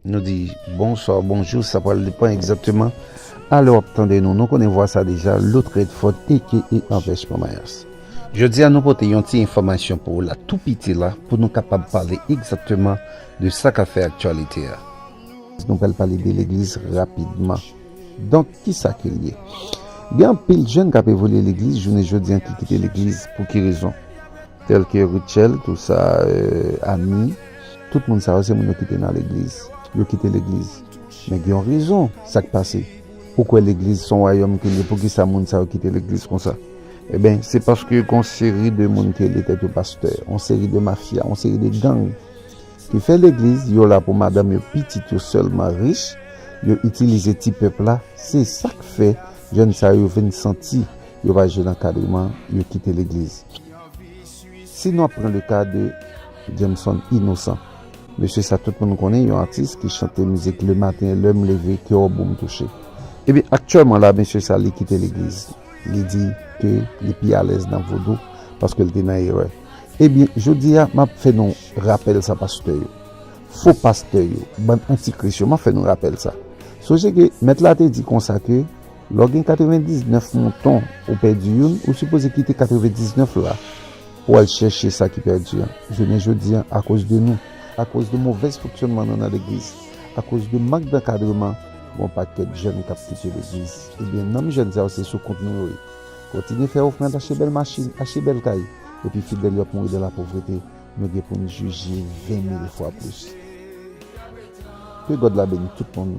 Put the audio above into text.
Nou di bonswa ou bonjou sa pral depan egzakteman a lè w ap tande nou. Nou konnen vwa sa deja, Looth Redford aka Anvèch Mama Yas. Jodi a nou pote yon ti enfòmasyon pou ou la tou piti la pou nou kapab pale egzakteman de sa k ap fè aktyalite a. Nou pral pale de legliz rapidman. Donk, ki sa ke l ye? Gen anpil jèn k ap evolye legliz jounen jodi an ki kite legliz. Pou ki rezon? Tel ke Rutshelle, tout sa, Annie, tout moun sa yo se moun yo ki te nan legliz. Yo kite legliz. Men gen yon rezon sa k pase. Ou kwè legliz se yon wayòm ke l ye, poukisa moun sa yo kite legliz konsa? Enben, se paske gen yon seri de moun ki rele tèt yo pastè, yon seri de mafya, yon seri de gang ki fè legliz, yo la pou madanm yo, pitit yo sèlman rich, yo itilize ti pèp la, se sa k fè jèn sa yo vin santi. Yo pa jwenn ankadreman, yo kite legliz. Si nou ap pran le ka de Jameson Innocent. Mesye sa tout moun konnen, yon atis ki chante mizik Le matin lè m leve kè w boum touche. Ebyen aktyèlman la mesye sa li kite legliz. Li di ke li pi alèz nan vodou paske l te nan erè. Ebyen jodi a m ap fè nou rapèl sa pastè yo. Fo pastè yo, bann antikris yo m ap fè nou rapèl sa. Sonje ke mèt la te di konsa ke. Lè w gen 99 mouton, ou pèdi youn, ou sipoze kite 99 la pou w al chèche sa ki pèdi an. Jounen jodi a, akoz de nou, akoz de movèz fonksyònman nou nan legliz, akoz de mank dankadreman, gen yon pakèt jèn k ap kite legliz. Ebyen, nanm jèn sa yo se sou kont nou yo ye. Kontinye fè ofrand, achte bèl machin, achte bèl kay, epi fidèl yo ap mouri dan lapovrete, nou gen pou n jije ven mil fwa plis. Ke God la beni tout moun.